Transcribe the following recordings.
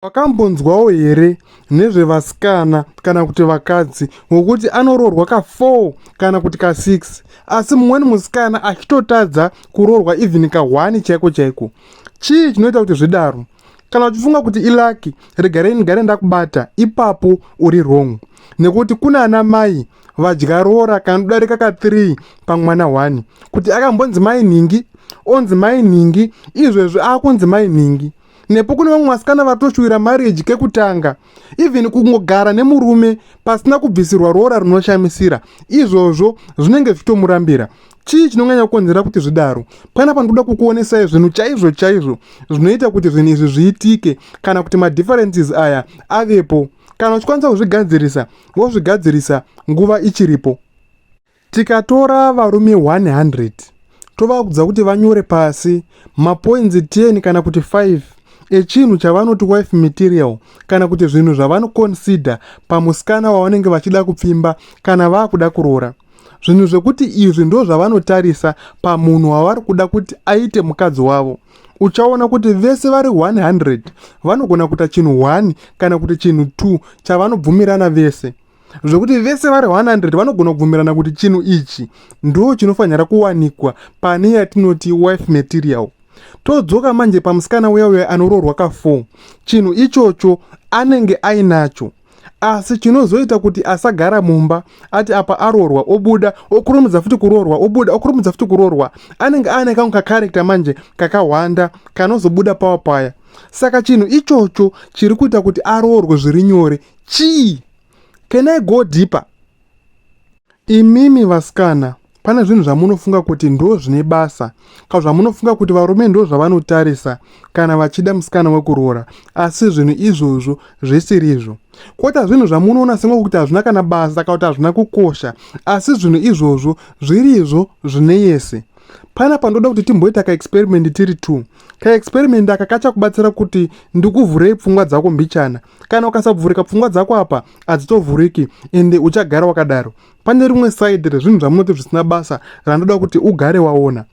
Wakambonzwawo here nezvevasikana kana kuti vakadzi vokuti anoroorwa ka 4 kana kuti ka 6 asi mumweni musikana achitotadza kuroorwa even ka 1 chaiko chaiko? Chii chinoita kuti zvidaro? Kana uchifunga kuti ilaki, regarei ndigare ndakubata, ipapo uri wrong. Nekuti kuna ana mai vadya roora kanodarika ka 3 pamwana 1 kuti akambonzi mai nhingi, onzi mai nhingi, izvezvi akunzi mai nhingi. nepo kune vamwe vasikana vatoshuvira marriage kekutanga even kungogara nemurume pasina kubvisirwa roora rinoshamisira izvozvo zvinenge zvichitomurambira chii chinonyanya kukonzera kuti zvidaro pana panotoda kukuonesai zvinhu chaizvo chaizvo zvinoita kuti zvinhu izvi zviitike kana kuti madifferences aya avepo kana uchikwanisa kuzvigadzirisa wozvigadzirisa nguva ichiripo Tikatora varume 100 tovakudza kuti vanyore pasi mapoinzi 10 kana kuti 5 echinhu chavanoti wife material kana kuti zvinhu zvavanoconsider pamusikana wavanenge vachida kupfimba kana vakuda kuroora zvinhu zvekuti izvi ndo zvavanotarisa pamunhu wavari kuda kuti aite mukadzi wavo uchaona kuti vese vari 100 vanogona kuita chinhu 1 kana kuti chinhu 2 chavanobvumirana vese zvekuti vese vari 100 vanogona kubvumirana kuti chinhu ichi ndo chinofanira kuwanikwa pane yatinoti wife material todzoka manje pamusikana uya uya anoroorwa ka 4 chinhu ichocho anenge ainacho asi chinozoita kuti asagara mumba ati apa aroorwa obuda okurumidza futi kuroorwa obuda okurumidza futi kuroorwa anenge aane kangu kakarekta manje kakahwanda kanozobuda pawa paya saka chinhu ichocho chiri kuita kuti aroorwe zviri nyore chii can i go deeper imimi vasikana pane zvinhu zvamunofunga kuti ndo zvine basa ka zvamunofunga kuti varume ndo zvavanotarisa kana vachida musikana wekuroora asi zvinhu izvozvo zvisirizvo kota zvinhu zvamunoona senge kuti hazvina kana basa ka kuti hazvina kukosha asi zvinhu izvozvo zvirizvo zvine yese pana pandoda kuti timboita kaexperiment tiri two kaexperiment aka kachakubatsira kuti ndikuvhurei pfungwa dzako mbichana kana ukasabvurika pfungwa dzako apa hadzitovhuriki ende uchagara wakadaro pane rimwe side rezvinhu zvamunoti zvisina basa randoda kuti ugare waona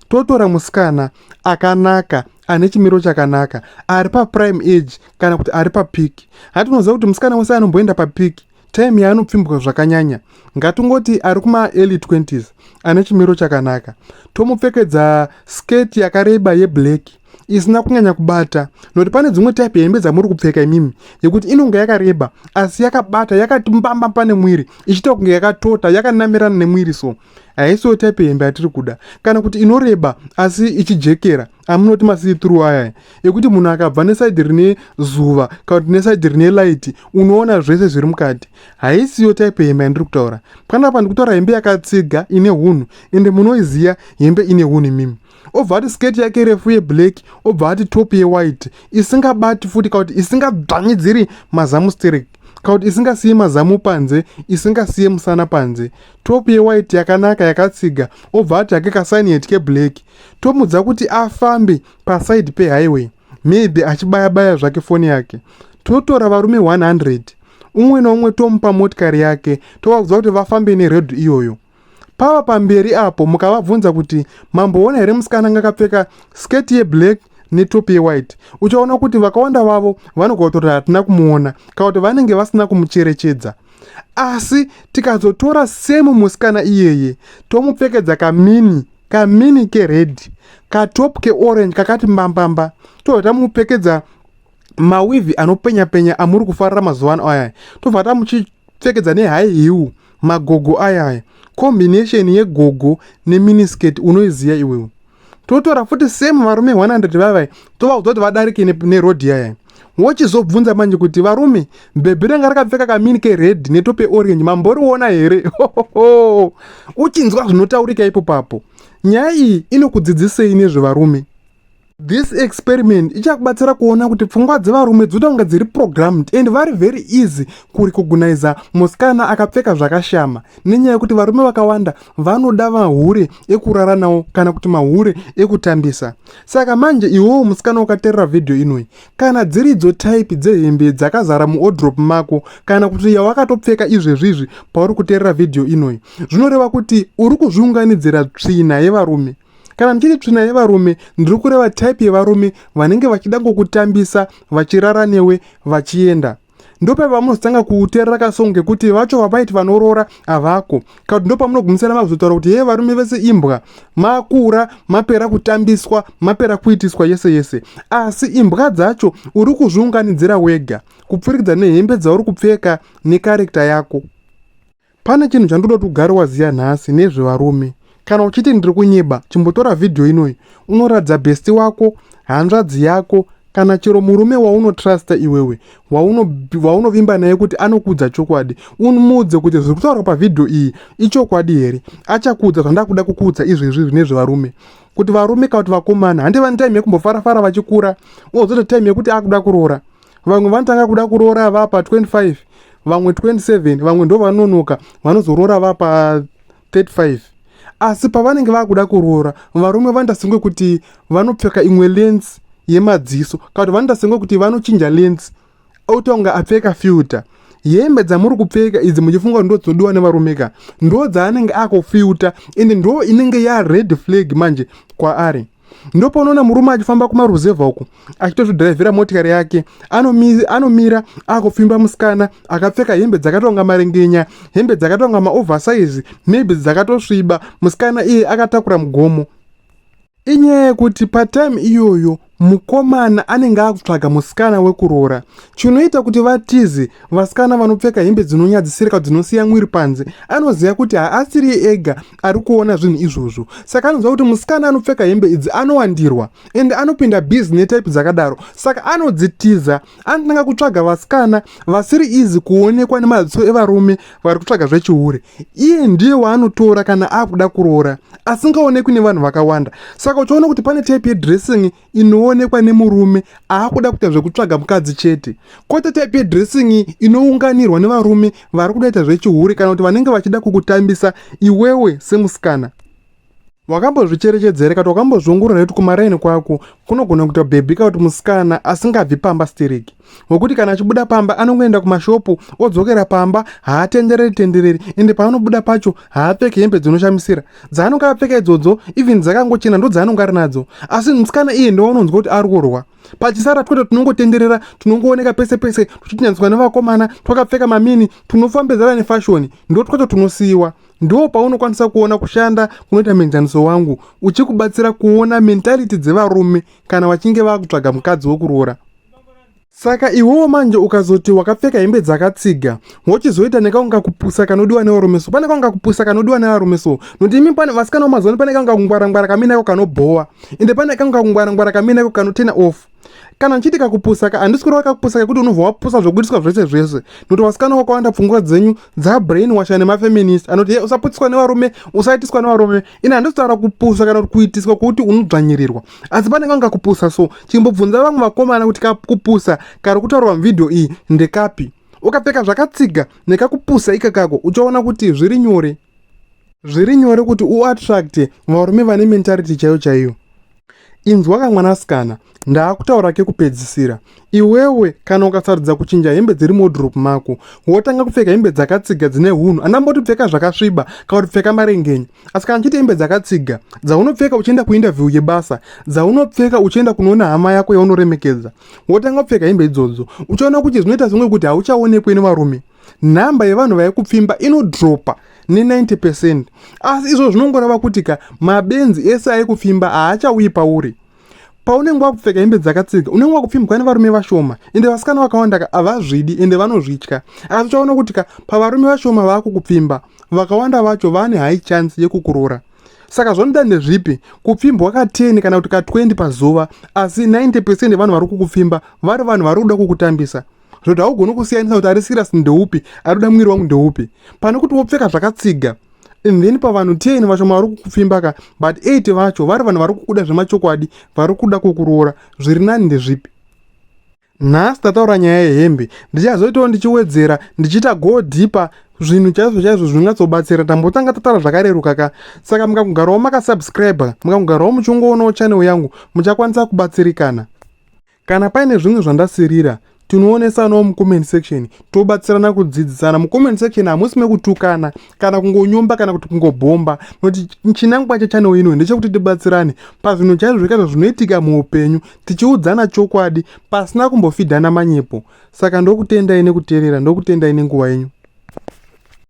totora musikana akanaka ane chimiro chakanaka ari paprime age kana kuti ari papiki hatinoziva kuti musikana wese anomboenda papiki time yaanopfimbwa zvakanyanya ngatingoti ari kumaearly 20s ane chimiro chakanaka tomupfekedza skirt yakareba yeblack isina kunyanya kubata nokuti pane dzimwe type yehembe dzamuri kupfeka imimi yekuti inonge yakareba asi yakabata yakati mbamba pane mwiri ichiita kunge yakatota yakanamirana nemwiri so haisiwo type yehembe yatiri kuda kana kuti inoreba asi ichijekera amunoti masitru aya ekuti munhu akabva nesaidi rine zuva kana kuti nesaidi rine laiti unoona zvese zviri mukati haisiyo type hembe yandiri kutaura panapa ndikutaura hembe yakatsiga ine hunhu ende munoiziva hembe ine hunhu imimi obva ati sketi yake refu yeblack obva ati top yewhite isingabati futi kana kuti isingadzvanyidziri mazamu sterek kana kuti isingasiye mazamu panze isingasiye musana panze top yewhite yakanaka yakatsiga obva ati hake kasaini heti keblack tomudza kuti afambe paside pehighway maybe achibaya baya zvake foni yake totora varume 100 umwe noumwe tomupa motikari yake tovabvunza kuti vafambe neredho iyoyo pava pamberi apo mukavabvunza kuti mamboona here musikana anga akapfeka sketi yeblack netop yewhite uchaona kuti vakawanda vavo vanogotora hatina kumuona kana kuti vanenge vasina kumucherechedza asi tikazotora semu musikana iyeye tomupfekedza kamini kamini kered katop keorange kakati mbambamba tobva tamupfekedza mawivhi anopenya penya amuri kufarira mazuva ano ayaya tobva tamuchipfekedza nehigh hill magogo ayaya combination yegogo neminisketi unoiziva iwewe totora futi same varume 100 vavai tovaudza kuti vadarike neroad yayaya wochizobvunza manje kuti varume bhebhi ranga rakapfeka kamini kered netope orange mamboriona here hohoho uchinzwa zvinotaurika ipo papo nyaya iyi inokudzidzisei nezvevarume this experiment ichakubatsira kuona kuti pfungwa dzevarume dzoda kunge dziri programmed and vari very easy kurecognisa musikana akapfeka zvakashama nenyaya yekuti varume vakawanda vanoda mahure ekurara nawo kana kuti mahure ekutambisa Saka manje iwewo musikana ukaterera vhidhiyo inoyi, kana dziridzo type dzehembe dzakazara muodrop mako kana kuti yawakatopfeka izvezvizvi pauri kuterera vhidhiyo inoyi, zvinoreva kuti uri kuzviunganidzira tsvina yevarume. Kana ndichiti tsvina yevarume, ndiri kureva type yevarume vanenge vachida kukutambisa, vachirara newe, vachienda. ndopavanozotanga kuterera kasong kekuti vacho vavaiti vanoroora havako kakuti ndopamunogumisira makuzotaura kuti hee varume vese imbwa makura mapera kutambiswa mapera kuitiswa yese yese asi imbwa dzacho uri kuzviunganidzira wega kupfurikidza nehembe dzauri kupfeka nekarekta yako Pane chinhu chandoda kuti ugare waziya nhasi nezvevarume. Kana uchiti ndiri kunyeba, chimbotora vhidhiyo inoyi unoratidza besti wako, hanzvadzi yako, kana chero murume waunotrusta iwewe waunovimba naye kuti anokuudza chokwadi umuudze kuti zviri kutaurwa pavhidhiyo iyi ichokwadi here achakuudza zvandakuda kukuudza izvezvi zvine zvevarume kuti varume kana kuti vakomana handi vane time yekumbofarafara vachikura ozoita time yekuti akuda kuroora vamwe vanotanga kuda kuroora vapa 25 vamwe 27 vamwe ndo vanonoka vanozoroora vapa 35 asi pavanenge vakuda kuroora varume vanoita senge kuti vanopfeka imwe lens yemadziso kana kuti vanoita senge kuti vanochinja lens oita kunge apfeka filter hembe dzamuri kupfeka idzi muchifunga kuti ndodzodiwa nevarume ka ndo dzaanenge akufilter ende ndo inenge yared flag manje kwaari ndopaunoona murume achifamba kumaruzevha uku achitozvidhiraivhira motikari yake anomira akupfimba musikana akapfeka hembe dzakatonga marengenya hembe dzakatonga maoversize maybe dzakatosviba musikana iye akatakura mugomo inyaya yekuti patime iyoyo mukomana anenge akutsvaga musikana wekuroora chinoita kuti vatizi vasikana vanopfeka hembe dzinonyadzisirika dzinosiya mwiri panze anoziva kuti haasiri ega ari kuona zvinhu izvozvo saka anonzwa kuti musikana anopfeka hembe idzi anowandirwa ende anopinda bizi netype dzakadaro saka anodzitiza anotanga kutsvaga vasikana vasiri izi kuonekwa nemaziso evarume vari kutsvaga zvechihure iye ndiye waanotora kana akuda kuroora asingaonekwi nevanhu vakawanda saka uchiona kuti pane type yedressing inoonekwa nemurume aakuda kuita zvekutsvaga mukadzi chete kwete type yedressing iyi inounganirwa nevarume vari kudaita zvechihure kana kuti vanenge vachida kukutambisa iwewe semusikana wakambozvicherechedzera kati wakambozviongorora kuti kumaraini kwako kunogona kuita bhebhi ka kuti musikana asingabvi pamba stereki wekuti kana achibuda pamba anongoenda kumashopu odzokera pamba haatendereri tendereri ende paanobuda pacho haapfeki hembe dzinoshamisira dzaanonge apfeka idzodzo even dzakangochena ndo dzaanonge ari nadzo asi musikana iye ndowaunonzwa kuti ari kurwa pachisara twete tinongotenderera tinongooneka pese pese tuchitinyaniswa nevakomana twakapfeka mamini tunofambedzana nefashoni ndo twacho tunosiyiwa ndo paunokwanisa kuona kushanda kunoita muenzaniso wangu uchikubatsira kuona mentality dzevarume kana vachinge vakutsvaga mukadzi wekuroora Saka iwewo manje ukazoti wakapfeka hembe dzakatsiga wochizoita nekaunga kupusa kanodiwa nevarume so pane kaunga kupusa kanodiwa nevarume so nokuti imi pane vasikana vamazuvano pane kaunga kungwarangwara kaminako kanobhowa ende pane kaunga kungwarangwara kaminako kanotena off kana ndichiti kakupusa ka handisi kureva kakupusa kekuti unobva wapusa zvokuitiswa zvese zvese nokuti vasikana vakawanda pfungwa dzenyu dza brain washa nemafeminist anoti hey, usaputiswa nevarume usaitiswa nevarume ini handizotaura kupusa kana kuti kuitiswa kwekuti unodzvanyirirwa asi panenge anga kupusa so chimbobvunza vamwe vakomana kuti kakupusa kari kutaurwa muvhidhiyo iyi ndekapi ukapfeka zvakatsiga nekakupusa ika kako uchaona kuti zviri nyore zviri nyore kuti uattracte varume vane mentality chaiyo chaiyo Inzwa ka mwanasikana, ndaakutaura kekupedzisira. Iwewe kana ukasarudza kuchinja hembe dziri mudrop mako, wotanga kupfeka hembe dzakatsiga dzine hunhu, andamboti pfeka zvakasviba kana kuti pfeka marengenya. Asi kana ndichiti hembe dzakatsiga, dzaunopfeka uchienda kuinterview yebasa, dzaunopfeka uchienda kunoona hama yako yaunoremekedza, wotanga kupfeka hembe idzodzo. Uchaona kuti zvinoita senge kuti hauchaonekwe nevarume. nhamba yevanhu vave kupfimba inodropa ne90 percent asi izvo zvinongoreva kuti ka mabenzi ese aye kupfimba haachauyi pauri paunenge wakupfeka hembe dzakatsiga unenge wakupfimbwa nevarume vashoma ende vasikana vakawanda ka havazvidi ende vanozvitya asi uchaona kuti ka pavarume vashoma vava kukupfimba vakawanda vacho vane high chance yekukurora saka zvanoda ndezvipi kupfimbwa ka10 kana kuti ka20 pazuva asi 90 percent yevanhu vari kukupfimba vari vanhu vari kuda kukutambisa zvekuti haugoni kusiyanisa kuti ari serious ndeupi ari kuda mwiri wangu ndeupi pane kuti wopfeka zvakatsiga and then pavanhu 10 vacho mavari kukupfimba ka but 8 vacho vari vanhu vari kukuda zvemachokwadi vari kuda kukuroora zviri nani ndezvipi nhasi tataura nyaya yehembe ndichazoitawo ndichiwedzera ndichiita go deeper zvinhu chaizvo chaizvo zvingatsobatsira tambotanga tatara zvakareruka ka saka mukakugarawo makasubscribe mukakugarawo muchingoonawo channel yangu muchakwanisa kubatsirikana Kana paine zvimwe zvandasirira tinoonesanawo mucomment section tobatsirana kudzidzisana mucomment section hamusi mekutukana kana kungonyomba kana kuti kungobhomba noti chinangwa chechanel ino ndechekuti tibatsirane pazvinhu chaizvo zvikaizvo zvinoitika muupenyu tichiudzana chokwadi pasina kumbofidhana manyepo saka ndokutendai nekuteerera ndokutendai nenguva yenyu